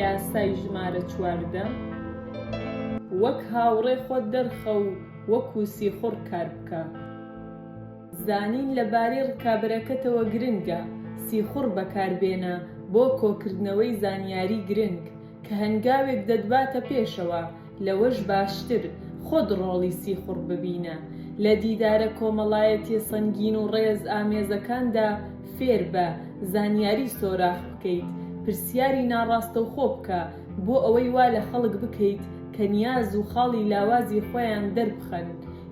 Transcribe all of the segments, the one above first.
یاسای ژمارە چواردە وەک هاوڕێ خۆت دەرخە و وەکو سیخوڕ کار بکە. زانین لەبارەی ڕکابەرەکەتەوە گرنگە، سیخوڕ بەکاربێنە بۆ کۆکردنەوەی زانیاری گرنگ کە هەنگاوێک دەتباتە پێشەوە، لەوەش باشتر خۆت ڕۆڵی سیخوڕ ببینە، لە دیدارە کۆمەڵایەتیە سەنگین و ڕێز ئامێزەکاندا فێربە زانیاری سۆراخ بکەیت، پرسیاری ناڕاستەوخۆ بکە، بۆ ئەوەی وا لە خەڵک بکەیت کە نیاز و خاڵی لاوازی خۆیان دەربخەن،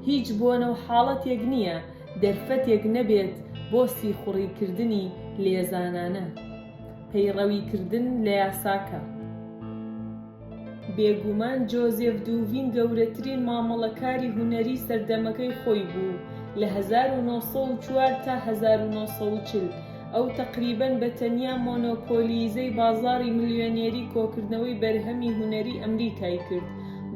هیچ بۆنە و حاڵەتێک نییە دەرفەتێک نەبێت بۆ سیخوڕی کردنی لێزانانە پەیڕەوی کردن لە یاساکە. بێگومان جۆزێف دوڤین گەورەترین مامەڵەکاری هونەریی سەردەمەکەی خۆی بوو، لە هەزار و نۆ سەد و چوار تا هەزار و نۆ سەد و چل، ئەو تەقریبەن بە تەنیا مۆنۆپۆلییزەی بازاڕی ملیۆنێری کۆکردنەوەی بەرهەمی هونەریی ئەمریکای کرد،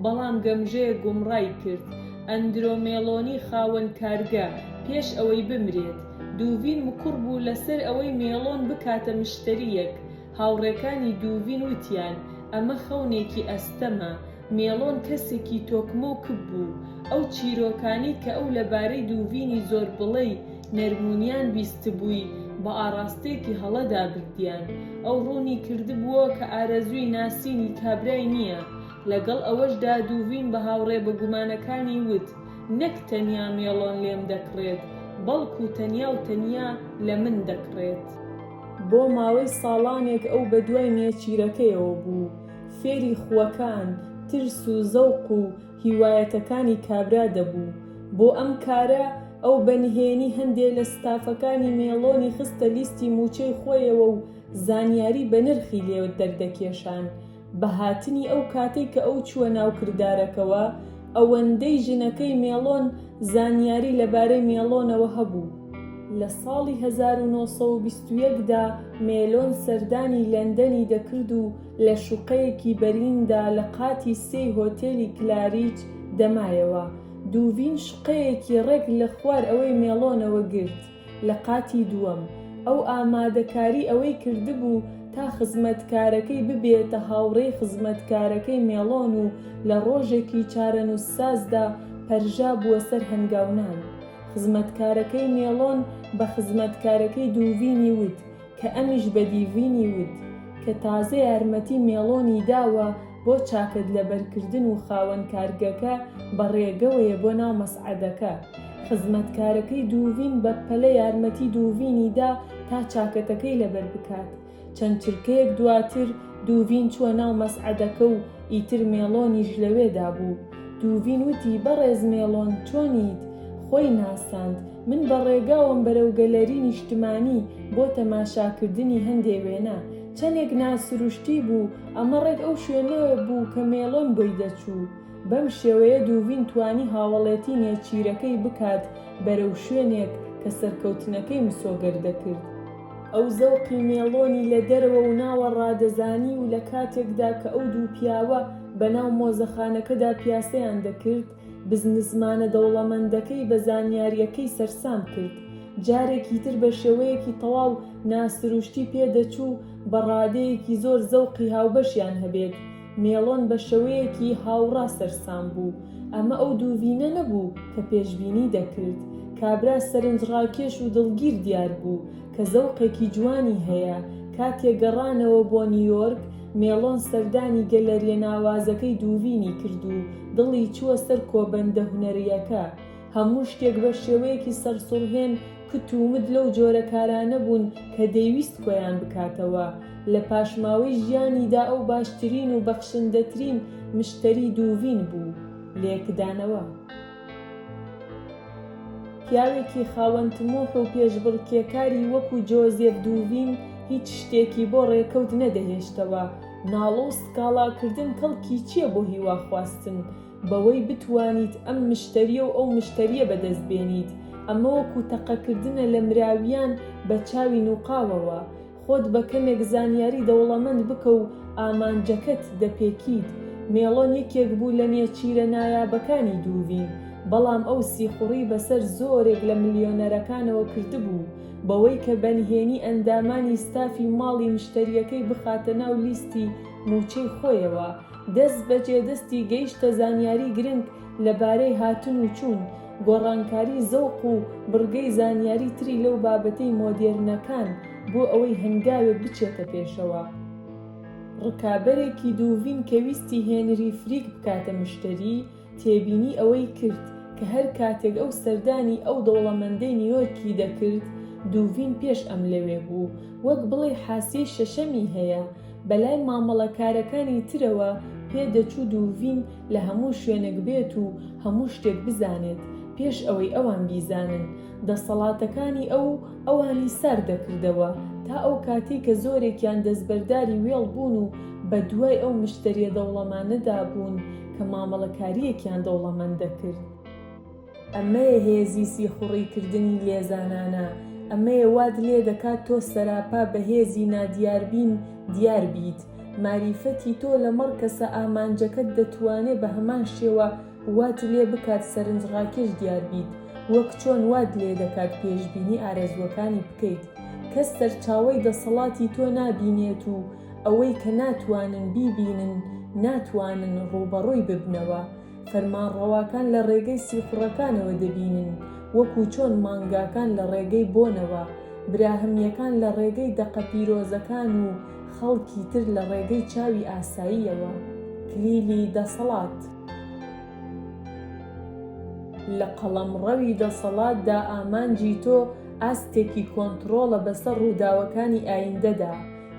بەڵام گەمژەیە گومڕای کرد. ئەندرۆ مێڵۆنی خاوەن کارگە، پێش ئەوەی بمرێت، دوڤین مکوڕ بوو لەسەر ئەوەی مێڵۆن بکاتە مشتەرییەک، هاوڕێکانی دووڤین وتیان، ئەمە خەونێکی ئەستەمە. مێڵۆن کەسێکی تۆکمە و کپ بوو. ئەو چیرۆکانەی کە ئەو لەبارەی دووڤینی زۆربڵێی نەرمونیان بیستبووی، بە ئاڕاستەیەکی هەڵەدا بردیان. ئەو ڕوونی کردبووەوە کە ئارەزووی ناسینی کابرای نییە. لەگەڵ ئەوەشدا دووڤین بە هاوڕێ بەگومانەکانی وت، نەک تەنیا مێڵۆن لێم دەکڕێت، بەڵکو تەنیا و تەنیا لە من دەکڕێت. بۆ ماوەی ساڵانێک ئەو بە دوای نێچیرەکەیەوە بوو، فێری خووەکان، ترس و زەوق و هیوایەتەکانی کابرا دەبوو. بۆ ئەم کارە ئەو بە نهێنی هەندێ لە ستافەکانی مێڵۆنی خستە لیستی مووچەی خۆیەوە و زانیاری بەنرخی لێ دەردەکێشان. بە هاتنی ئەو کاتەی کە ئەو چووە ناو کردارەکەوە، ئەوەندەی ژنەکەی مێڵۆن زانیاری لەبارەی مێڵۆنەوە هەبوو. لە ساڵی هەزار و نۆ سەد و بیست و یەک دا مێلۆن سەردانی لەندەنی دەکرد و لە شوقەیەکی بەریندا لە قاتی سێی هۆتێلی کلاریچ دەمایەوە. دووڤین شوقەیەکی ڕێک لە خوار ئەوەی مێڵۆنەوە گرت. لە قاتی دووەم، ئەو ئامادەکاری ئەوەی کردبوو تا خزمەتکارەکەی ببێتە هاوڕێی خزمەتکارەکەی مێڵۆن و لە ڕۆژێکی چارەنووسسازدا پەرژا بووە سەر هەنگاونان. خزمەتکارەکەی مێڵۆن بە خزمەتکارەکەی دووڤینی وت، کە ئەمیش بە دیڤینی وت کە تازە یارمەتی مێڵۆنی داوە بۆ چاکەت لەبەرکردن و خاوەن کارگەکە بە ڕێگەوەیە بۆ ناو مەسعەدەکە. خزمەتکارەکەی دوڤین بە پەلە یارمەتی دوڤینی دا تا چاکەتەکەی لەبەر بکات. چەند چرکەیەک دواتر دوڤین چووە ناو مەسعەدەکە و ئیتر مێڵۆنیش لەوێدا بوو. دوڤین وتی بەڕێز مێڵۆن چۆنیت؟ خۆی ناساند. من بە ڕێگاوەم بەرەو گەلەری نیشتمانی بۆ تەماشاکردنی هەندێ وێنە، چەندێک ناسروشتی بوو، ئەمە ڕێک ئەو شوێنە بوو کە مێلۆن بۆی دەچوو. بەم شێوەیە دوڤین توانی هاوەڵێتی نێچیرەکەی بکات بەرەو شوێنێک کە سەرکەوتنەکەی مسۆگەر دەکرد. ئەو زەوقی مێلۆنی لە دەرەوە و ناوە ڕادەزانی و لە کاتێکدا کە ئەو دوو پیاوە بەناو مۆزەخانەکەدا پیاسەیان دەکرد، بزنسمانە دەوڵەمەندەکەی بە زانیارییەکەی سەرسام کرد، جارێکی تر بە شێوەیەکی تەواو ناسروشتی پێ دەچوو بە ڕادەیەکی زۆر زەوقی هاوبەشیان هەبێت، مێڵۆن بە شەوەیەکی هاوڕا سەرسام بوو، ئەمە ئەو دووڤینە نەبوو کە پێشبینی دەکرد، کابرا سەرنجڕاکێش و دڵگیر دیار بوو کە زەوقێکی جوانی هەیە، کاتێ گەڕانەوە بۆ نیویۆرک، مێڵۆن سەردانی گەلەرییە ناوازەکەی دووڤینی کرد و دڵی چووە سەر کۆبەندە هونەرییەکە. هەموو شتێک بە شێوەیەکی سەرسوڕهێن کت و مت لەو جۆرە کارانە بوون کە دەیویست کۆیان بکاتەوە. لە پاشماوەی ژیانیدا ئەو باشترین و بەخشندەترین مشتەری دووڤین بوو. لێکدانەوە. پیاوێکی خاوەن تموح و پێشبڕکێکاری وەکو جۆزێف دوڤین هیچ شتێکی بۆ ڕێکەوت نەدەهێشتەوە، ناڵە و سکاڵاکردن کەڵکی چیە بۆ هیواخواستن بەوەی بتوانیت ئەم مشتەریە و ئەو مشتەریە بەدەست بێنیت، ئەمە وەکو تەقەکردنە لە مراویان بە چاوی نوقاوەوە، خۆت بە کەمێک زانیاری دەوڵەمەند بکە و ئامانجەکەت دەپێکیت. مێڵۆن یەکێک بوو لە نێچیرە نایابەکانی دوورین، بەڵام ئەو سیخوڕی بەسەر زۆرێک لە ملیۆنەرەکانەوە کردبوو، بەوەی کە بەنهێنی ئەندامانی ستافی ماڵی مشتەرییەکەی بخاتە ناو لیستی مووچەی خۆیەوە، دەستبەجێ دەستی گەیشتە زانیاری گرنگ لەبارەی هاتن و چوون، گۆڕانکاری زەوق و بڕگەی زانیاری تری لەو بابەتەی مۆدێرنەکان بۆ ئەوەی هەنگاوێک بچێتە پێشەوە. ڕکابەرێکی دووڤین کە ویستی هێنری فریک بکاتە مشتەری، تێبینی ئەوەی کرد کە هەر کاتێک ئەو سەردانی ئەو دەوڵەمەندەی نیویۆرکی دەکرد، دووڤین پێش ئەم لەوێ بوو، وەک بڵێی حاسیەی شەشەمی هەیە، بەلای مامەڵەکارەکانی ترەوە پێدەچوو دووڤین لە هەموو شوێنک بێت و هەموو شتێک بزانێت پێش ئەوەی ئەوان بیزانن، دەسەڵاتەکانی ئەو ئەوانی سارد دەکردەوە تا ئەو کاتەی کە زۆرێکیان دەستبەرداری وێڵ بوون و بە دوای ئەو مشتەریە دەوڵەمانەدا بوون کە مامەڵەکاریەکیان دەوڵەمەند دەکرد. ئەمەیە هێزی سیخوڕی کردنی لێزانانە، ئەمەیە وات لێ دەکات تۆ سەراپا بە هێزی نادیاربین دیار بیت، ماریفەتی تۆ لەمەڕ کەسە ئامانجەکەت دەتوانێ بە هەمان شێوە وات لێ بکات سەرنجڕاکێش دیار بیت وەک چۆن وات لێ دەکات پێشبینی ئارەزووەکانی بکەیت کەس سەرچاوەی دەسەڵاتی تۆ نابینێت و ئەوەی کە ناتوانن بیبینن ناتوانن ڕووبەڕووی ببنەوە فەرمانڕەواکان لە ڕێگەی سیخوڕەکانەوە دەبینن، وەکو چۆن مانگاکان لە ڕێگەی بۆنەوە، براهەمییەکان لە ڕێگەی دەقە پیرۆزەکان و خەڵکی تر لە ڕێگەی چاوی ئاساییەوە. کلیلی دەسەڵات. لە قەڵەمڕەوی دەسەڵاتدا ئامانجی تۆ ئاستێکی کۆنتڕۆڵە بەسەر ڕووداوەکانی ئایندەدا،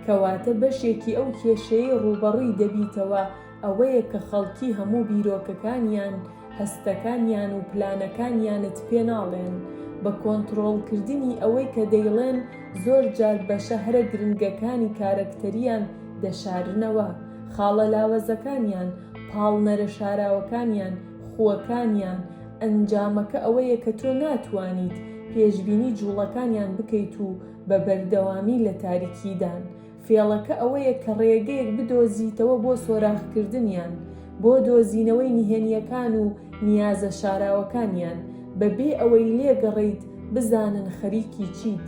کەواتە بەشێکی ئەو کێشەیەی ڕووبەڕووی دەبیتەوە، ئەوەیە کە خەڵکی هەموو بیرۆکەکانیان، هەستەکانیان و پلانەکانیانت پێ ناڵێن، بە کۆنتڕۆڵکردنی ئەوەی کە دەیڵێن زۆر جار بەشە هەرە گرنگەکانی کارەکتەریان دەشارنەوە، خاڵە لاوەزەکانیان، پاڵنەرە شاراوەکانیان، خووەکانیان، ئەنجامەکە ئەوەیە کە تۆ ناتوانیت پێشبینی جوڵەکانیان بکەیت و بە بەردەوامی لە تاریکیدان، فێڵەکە ئەوەیە کە ڕێگەیەک بدۆزیتەوە بۆ سۆراخکردنیان، بۆ دۆزینەوەی نهێنییەکان و نیازە شاراوەکانیان، بەبێ ئەوەی لێگەڕێیت بزانن خەریکی چیت.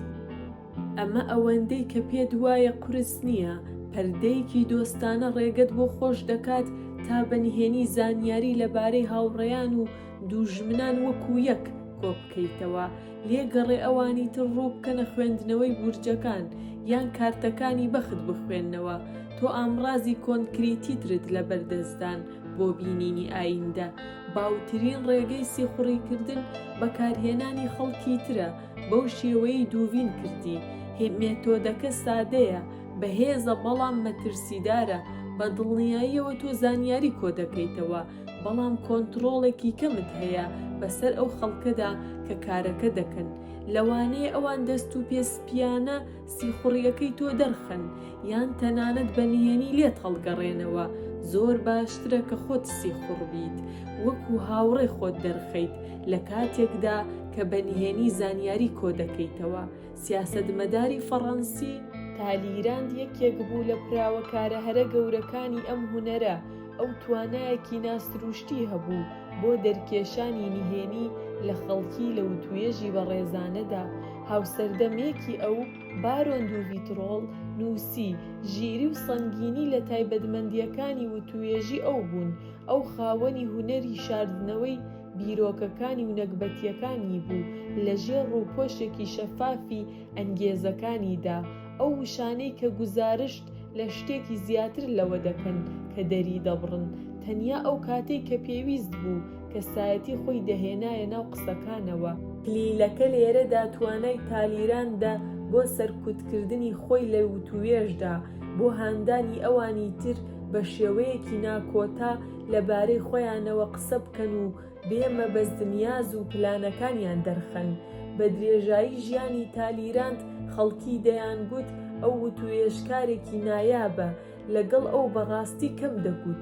ئەمە ئەوەندەی کە پێت وایە قورس نییە، پەردەیەکی دۆستانە ڕێگەت بۆ خۆش دەکات تا بە نهێنی زانیاری لەبارەی هاوڕێیان و دووژمنان وەکو یەک کۆبکەیتەوە، لێ گەڕێ ئەوانی تر ڕوو بکەنە خوێندنەوەی بورجەکان یان کارتەکانی بەخت بخوێنەوە تۆ ئامڕازی کۆنکریتیترت لەبەر دەستدان بۆ بینینی ئایندە باوترین ڕێگەی سیخوڕی کردن بەکارهێنانی خەڵکی ترە بەو شێوەیەی دووین کردی هی مێتۆدەکە سادەیە بەهێزە بەڵام مەترسیدارە بە دڵنیاییەوە تۆ زانیاری کۆدەکەیتەوە بەڵام کۆنتڕۆڵێکی کەمت هەیە بەسەر ئەو خەڵکەدا کە کارەکە دەکەن، لەوانەیە ئەوان دەست و پێ سپییانە سیخوڕییەکەی تۆ دەرخەن یان تەنانەت بە نهێنی لێت هەڵگەڕێنەوە، زۆر باشترە کە خۆت سیخوڕ بیت وەکو هاوڕێ خۆت دەرخەیت لە کاتێکدا کە بە نهێنی زانیاری کۆ دەکەیتەوە. سیاسەتمەداری فەڕەنسی. تالیراند یەکێک بوو لە پراوەکارە هەرە گەورەکانی ئەم هونەرە، ئەو توانایەکی ناسرووشتی هەبوو بۆ دەرکێشانی نهێنی لە خەڵکی لە وتووێژی بەڕێزانەدا، هاوسەردەمێکی ئەو، بارۆن دو ڤیترۆڵ، نووسی، ژیری و سەنگینی لە تایبەتمەندییەکانی وتووێژی ئەو بوون، ئەو خاوەنی هونەری شاردنەوەی بیرۆکەکانی و نەگبەتییەکانی بوو لە ژێر ڕووپۆشێکی شەفافی ئەنگێزەکانیدا، ئەو وشانەی کە گوزارشت لە شتێکی زیاتر لەوە دەکەن کە دەریدەبڕن، تەنیا ئەو کاتەی کە پێویست بوو، کەسایەتی خۆی دەهێنایە ناو قسەکانەوە. کلیلەکە لێرەدا توانای تالیراندە بۆ سەرکوتکردنی خۆی لە وتووێژدا، بۆ هاندانی ئەوانی تر بە شێوەیەکی ناکۆتا لەبارەی خۆیانەوە قسە بکەن و، بێ مەبەست نیاز و پلانەکانیان دەرخەن. بە درێژایی ژیانی تالیراند خەڵکی دەیان گوت ئەو وتووێژکارێکی نایابە، لەگەڵ ئەو بە ڕاستی کەم دەگوت.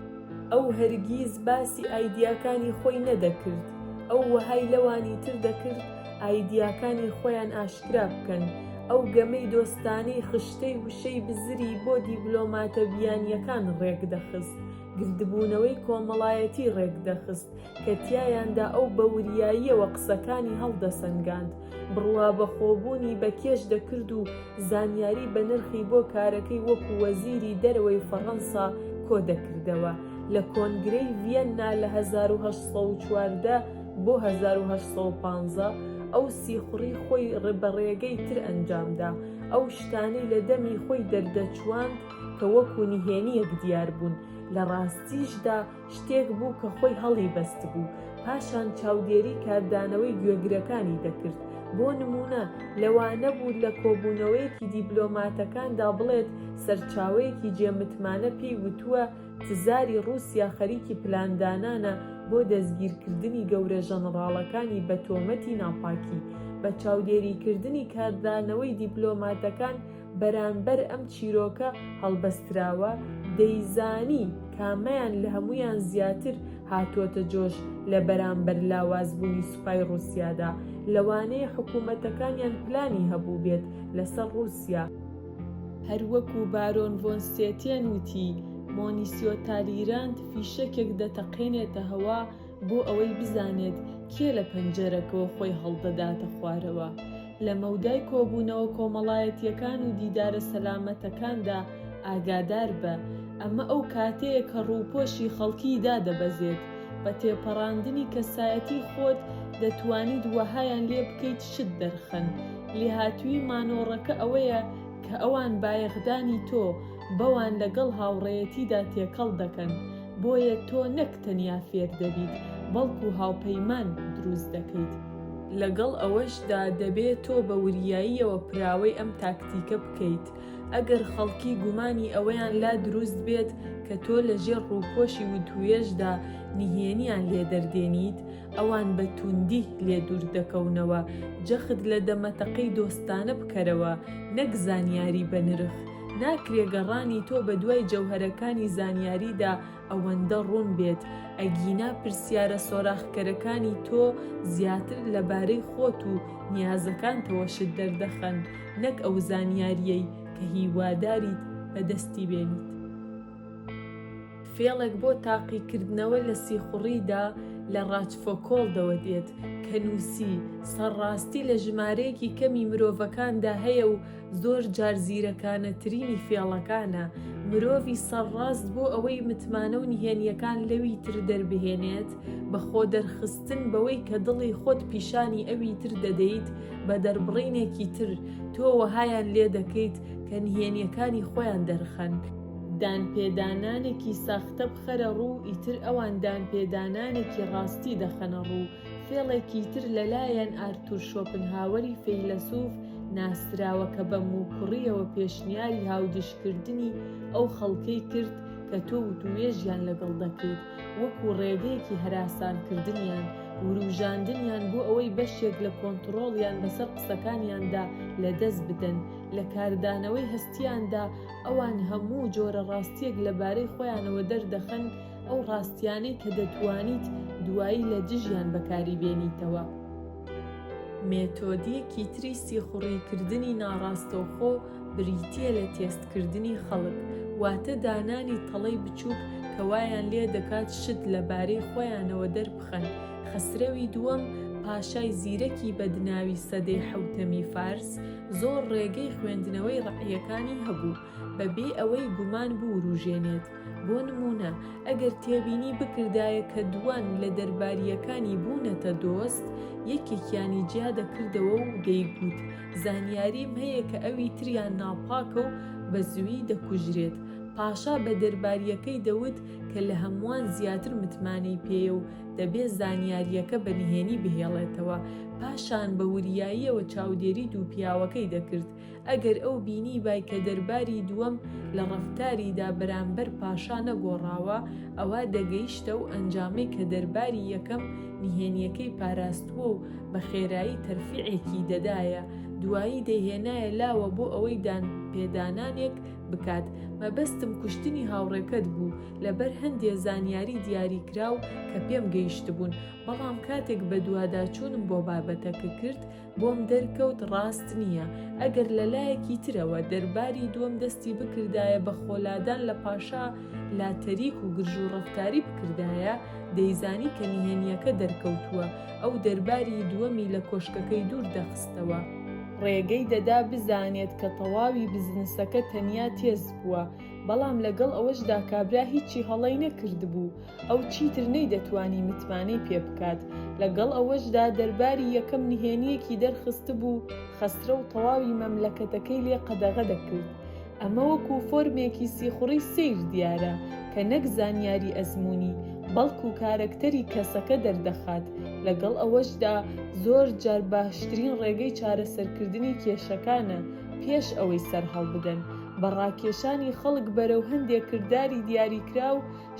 ئەو هەرگیز باسی ئایدیاکانی خۆی نەدەکرد، ئەو وەهای لەوانی تر دەکرد ئایدیاکانی خۆیان ئاشکرا بکەن. ئەو گەمەی دۆستانەی خشتەی وشەی بزری بۆ دیبلۆماتە بیانییەکان ڕێک دەخست. گردبوونەوەی کۆمەڵایەتی ڕێکدەخست کە تیایاندا ئەو بە وریاییەوە قسەکانی هەڵدەسەنگاند، بڕوابەخۆبوونی بە کێش دەکرد و زانیاری بەنرخی بۆ کارەکەی وەکو وەزیری دەرەوەی فەڕەنسا کۆدەکردەوە لە کۆنگرەی ڤیەننا لە هەزار و هەشت سەد و چواردە بۆ هەزار و هەشت سەد و پازدە ئەو سیخوڕی خۆی بە ڕێگەی تر ئەنجامدا ئەو شتانەی لە دەمی خۆی دەردەچوواند کە وەکو نهێنییەک دیار بوون، لە ڕاستیشدا شتێک بوو کە خۆی هەڵی بەستبوو، پاشان چاودێری کاردانەوەی گوێگرەکانی دەکرد، بۆ نموونە لەوانەبوو لە کۆبوونەوەیەکی دیبلۆماتەکاندا بڵێت سەرچاوەیەکی جێ متمانە پێی وتووە تزاری ڕووسیا خەریکی پلاندانانە بۆ دەستگیرکردنی گەورە ژەنڕاڵەکانی بە تۆمەتی ناپاکی بە چاودێریکردنی کاردانەوەی دیبلۆماتەکان بەرانبەر ئەم چیرۆکە هەڵبەستراوە، دەیزانی کامەیان لە هەموویان زیاتر هاتووەتە جۆش لە بەرانبەر لاوازبوونی سوپای ڕووسیادا، لەوانەیە حکوومەتەکانیان پلانی هەبووبێت لەسەر ڕووسیا. هەر وەکوو بارۆن ڤۆن ستێتێن وتی، مۆنیسیۆ تالیرانت فیشەکێک دەتەقێنێتە هەوا، بۆ ئەوەی بزانێت کێ لە پەنجەرەکەوە خۆی هەڵدەداتە خوارەوە. لە مەودای کۆبوونەوە کۆمەڵایەتییەکان و دیدارە سەلامەتەکاندا ئاگادار بە، ئەمە ئەو کاتەیە کە ڕووپۆشی خەڵکی دادەبەزێت، بە تێپەڕاندنی کەسایەتی خۆت دەتوانیت وەهایان لێ بکەیت شت دەرخەن، لێهاتوویی مانۆڕەکە ئەوەیە کە ئەوان بایەخدانی تۆ، بەوان لەگەڵ هاوڕێیەتیدا تێکەڵ دەکەن، بۆیە تۆ نەک تەنیا فێر دەبیت، بەڵکو هاوپەیمان دروست دەکەیت. لەگەڵ ئەوەشدا دەبێت تۆ بە وریاییەوە پراوەی ئەم تاکتیکە بکەیت، ئەگەر خەڵکی گومانی ئەوەیان لا دروست بێت کە تۆ لەژێر ڕووپۆشی وتووێژدا نهێنییان لێ دەردێنیت، ئەوان بە تووندی لێ دوور دەکەونەوە. جەخت لە دەمەتەقەی دۆستانە بکەرەوە، نەک زانیاری بەنرخ. ناکرێ گەڕانی تۆ بە دوای جەوهەرەکانی زانیاریدا ئەوەندە ڕوون بێت، ئەگینا پرسیارە سۆراخکەرەکانی تۆ زیاتر لەبارەی خۆت و نیازەکانتەوە شت دەردەخەن، نەک ئەو زانیارییەی کە هیواداریت بەدەستی بێنیت. فێڵێک بۆ تاقیکردنەوە لە سیخوڕیدا لە ڕاچفۆکۆلدەوە دێت، کە نووسی، سەرڕاستی لە ژمارەیەکی کەمی مرۆڤەکاندا هەیە و، زۆر جار زیرەکانەترینی فێڵەکانە مرۆڤی سەرڕاست بۆ ئەوەی متمانە و نهێنیەکان لەوی تر دەربهێنێت بە خۆ دەرخستن بەوەی کە دڵی خۆت پیشانی ئەوی تر دەدەیت بە دەربڕینێکی تر تۆ وەهایان لێ دەکەیت کە نهێنیەکانی خۆیان دەرخەن. دانپێدانانێکی ساختە بخەرە ڕوو ئیتر ئەوان دانپێدانانێکی ڕاستی دەخەنە ڕوو فێڵێکی تر لەلایەن ئارتور شۆپنهاوەری فەیلەسوف ناسراوە کە بە موکوڕییەوە پێشنیاری هاودیشکردنی ئەو خەڵکەی کرد کە تۆ وتووێژیان لەگەڵ دەکەیت وەکوو ڕێگەیەکی هەراسانکردنیان، وروژاندنیان بۆ ئەوەی بەشێک لە کۆنتڕۆڵیان بەسەر قسەکانیاندا لەدەست بدەن. لە کاردانەوەی هەستییاندا ئەوان هەموو جۆرە ڕاستییەک لەبارەی خۆیانەوە دەردەخەن، ئەو ڕاستیانەی کە دەتوانیت دوایی لە دژیان بەکاری بێنیتەوە. مێتۆدیکی تری سیخوڕیکردنی ناڕاستەوخۆ بریتییە لە تێستکردنی خەڵک، واتە دانانی تەڵەی بچووک کە وایان لێ دەکات شت لە بارەی خۆیانەوە دەربخەن. خەسرەوی دووەم، پاشای زیرەکی بەدناوی سەدەی حەوتەمی فارس، زۆر ڕێگەی خوێندنەوەی ڕەعییەکانی هەبوو، بەبێ ئەوەی گومان بووروژێنێت. بۆ نموونە ئەگەر تێبینی بکردایە کە دووان لە دەربارییەکانی بوونەتە دۆست یەکێکیانی جیا دەکردەوە و دەیگوت زانیاریم هەیە کە ئەوی تریان ناپاکە و بە زووی دەکوژرێت پاشا بە دەربارییەکەی دەوت کە لە هەمووان زیاتر متمانەی پێیە و دەبێ زانیارییەکە بە نهێنی بهێڵێتەوە پاشان بە وریاییەوە چاودێری دوو پیاوەکەی دەکرد ئەگەر ئەو بینیبای کە دەرباری دووەم لە ڕەفتاریدا بەرامبەر پاشا نەگۆڕاوە، ئەوا دەگەیشتە ئەو ئەنجامەی کە دەرباری یەکەم نهێنییەکەی پاراستووە و بە خێرایی تەرفیعێکی دەدایە، دوایی دەیهێنایە لاوە بۆ ئەوەی دانپێدانانێک بکات. مەبەستم کوشتنی هاوڕێکەت بوو، لەبەر هەندێ زانیاری دیاریکراو کە پێم گەیشتبوون، بەڵام کاتێک بەدواداچوونم بۆ بابەتەکە کرد، بۆم دەرکەوت ڕاست نییە، ئەگەر لە لایەکی ترەوە دەرباری دووەم دەستی بکردایە بە خۆلادان لە پاشا لا تەریک و گرژ و ڕەفتاری بکردایە، دەیزانی کە نهێنییەکە دەرکەوتووە، ئەو دەرباری دووەمی لە کۆشکەکەی دوور دەخستەوە. ڕێگەی دەدا بزانێت کە تەواوی بزنسەکە تەنیا تێست بووە، بەڵام لەگەڵ ئەوەشدا کابرا هیچی هەڵەی نەکردبوو، ئەو چیتر نەیدەتوانی متمانەی پێ بکات، لەگەڵ ئەوەشدا دەرباری یەکەم نهێنییەکی دەرخستبوو، خەسرەو تەواوی مەملەکەتەکەی لێ قەدەغە دەکرد. ئەمە وەکو فۆرمێکی سیخوڕی سەیر دیارە، کە نەک زانیاری ئەزموونی، بەڵکو کارەکتەری کەسەکە دەردەخات، لەگەڵ ئەوەشدا زۆر جار باشترین ڕێگەی چارەسەرکردنی کێشەکانە پێش ئەوەی سەرهەڵبدەن بە ڕاکێشانی خەڵک بەرەو هەندێ کرداری دیاریکراو،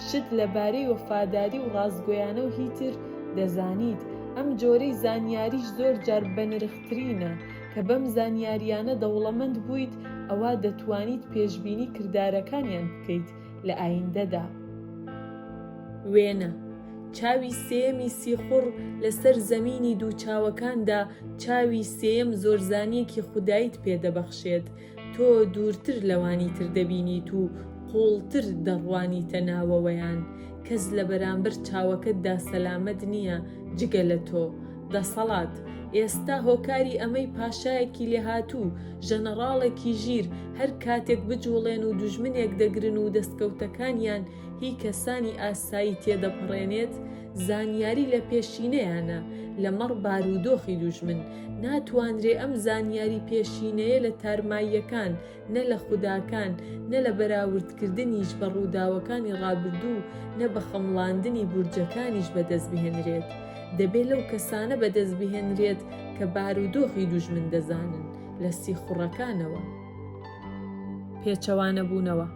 شت لە بارەی وەفاداری و ڕاستگۆیانە و هی تر دەزانیت، ئەم جۆرەی زانیاریش زۆر جار بەنرخترینە، کە بەم زانیاریانە دەوڵەمەند بوویت ئەوا دەتوانیت پێشبینی کردارەکانیان بکەیت لە ئایندەدا. وێنە، چاوی سێیەمی سیخوڕ، لەسەر زەمینی دوو چاوەکاندا چاوی سێیەم زۆرزانیەکی خودایت پێدەبەخشێت، تۆ دوورتر لەوانی تر دەبینیت و قووڵتر دەڕوانیتە ناوەوەیان، کەس لە بەرامبەر چاوەکەتدا سەلامەت نییە جگە لە تۆ. دەسەڵات، ئێستا هۆکاری ئەمەی پاشایەکی لێهاتوو، ژەنەڕاڵێکی ژیر، هەر کاتێک بجووڵێن و دوژمنێک دەگرن و دەستکەوتەکانیان هی کەسانی ئاسایی تێدەپەڕێنێت، زانیاری لە پێشینەیانە لەمەڕ بارودۆخی دوژمن، ناتوانرێ ئەم زانیاری پێشینەیە لە تارماییەکان، نە لە خوداکان، نە لە بەراوردکردنیش بە ڕووداوەکانی ڕابردوو، نە بە خەمڵاندنی بورجەکانیش بەدەست بهێنرێت. دەبێ لەو کەسانە بەدەست بهێنرێت کە بارودۆخی دوژمن دەزانن، لە سیخوڕەکانەوە. پێچەوانەبوونەوە.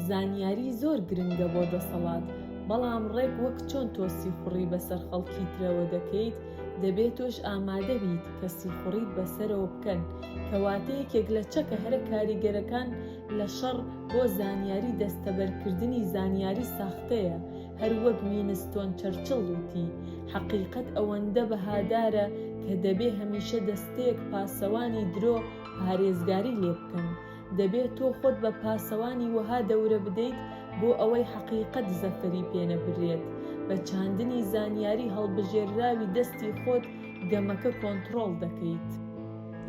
زانیاری زۆر گرنگە بۆ دەسەڵات، بەڵام ڕێک وەک چۆن تۆ سیخوڕی بەسەر خەڵکی ترەوە دەکەیت، دەبێ تۆش ئامادە بیت کە سیخوڕیت بەسەرەوە بکەن، کەواتە یەکێک لە چەکە هەرە کاریگەرەکان لە شەڕ بۆ زانیاری دەستەبەرکردنی زانیاری ساختەیە، هەر وەک وینستۆن چەرچڵ وتی، حەقیقەت ئەوەندە بەهادارە کە دەبێ هەمیشە دەستەیەک پاسەوانی درۆ پارێزگاری لێ بکەن. دەبێت تۆ خۆت بە پاسەوانی وەها دەورە بدەیت بۆ ئەوەی حەقیقەت زەفەری پێ نەبرێت. بە چاندنی زانیاری هەڵبژێرراوی دەستی خۆت گەمەکە کۆنتڕۆڵ دەکەیت.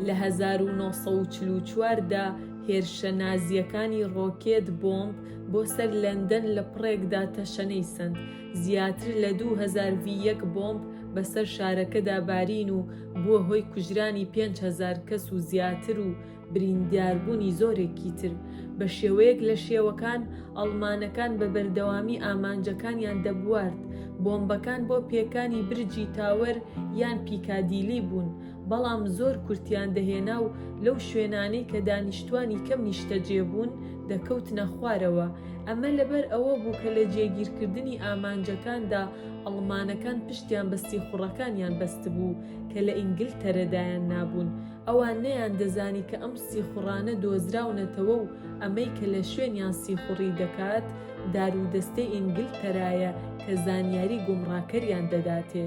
لە هەزار و نۆ سەد و چل و چوار دا هێرشە نازییەکانی ڕۆکێت بۆمب بۆ سەر لەندەن لە پڕێکدا تەشەنەی سەند. زیاتر لە دوو هەزار ڤی یەک بۆمب بەسەر شارەکەدا بارین و بووە هۆی کوژرانی پێنج هەزار کەس و زیاتر و برینداربوونی زۆرێکی تر، بە شێوەیەک لە شێوەکان ئەڵمانەکان بە بەردەوامی ئامانجەکانیان دەبوارد، بۆمبەکان بۆ پێکانی برجی تاوەر یان پیکادیلی بوون، بەڵام زۆر کورتیان دەهێنا و لەو شوێنانەی کە دانیشتووانی کەم نیشتەجێ بوون دەکەوتنە خوارەوە، ئەمە لەبەر ئەوە بوو کە لە جێگیرکردنی ئامانجەکاندا ئەڵمانەکان پشتیان بە سیخوڕەکانیان بەستبوو کە لە ئینگلتەرە دایان نابوون. ئەوان نەیاندەزانی کە ئەم سیخوڕانە دۆزراونەتەوە و ئەمەی کە لە شوێنیان سیخوڕی دەکات، دارودەستەی ئینگلتەرایە کە زانیاری گومڕاکەریان دەداتێ.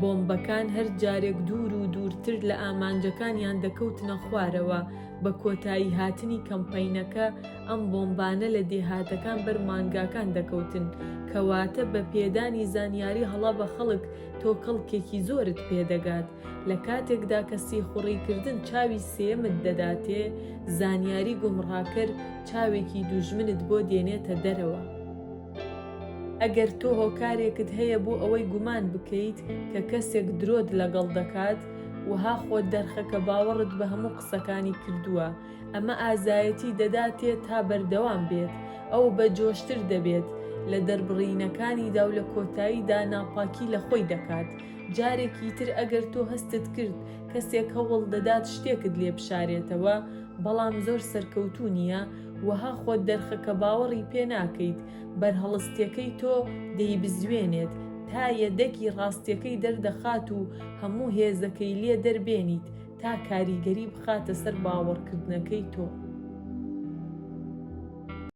بۆمبەکان هەر جارێک دوور و دوورتر لە ئامانجەکانیان دەکەوتنە خوارەوە. بە کۆتاییهاتنی کەمپەینەکە، ئەم بۆمبانە لە دێهاتەکان بەر مانگاکان دەکەوتن، کەواتە بە پێدانی زانیاری هەڵە بە خەڵک، تۆ کەڵکێکی زۆرت پێ دەگات، لە کاتێکدا کە سیخوڕی کردن چاوی سێیەمت دەداتێ، زانیاری گومڕاکەر چاوێکی دوژمنت بۆ دێنێتە دەرەوە. ئەگەر تۆ هۆکارێکت هەیە بۆ ئەوەی گومان بکەیت کە کەسێک درۆت لەگەڵ دەکات، وەها خۆت دەرخە کە باوەڕت بە هەموو قسەکانی کردووە، ئەمە ئازایەتی دەداتێ تا بەردەوام بێت، ئەو بە جۆشتر دەبێت لە دەربڕینەکانیدا و لە کۆتاییدا ناپاکی لە خۆی دەکات. جارێکی تر ئەگەر تۆ هەستت کرد کەسێک هەوڵ دەدات شتێکت لێ بشارێتەوە بەڵام زۆر سەرکەوتوو نییە، وەها خۆت دەرخە کە باوەڕی پێ ناکەیت، بەرهەڵستەکەی تۆ دەیبزوێنێت تا یەدەگی ڕاستەکەی دەردەخات و هەموو هێزەکەی لێ دەربێنیت تا کاریگەری بخاتە سەر باوەڕکردنەکەی تۆ.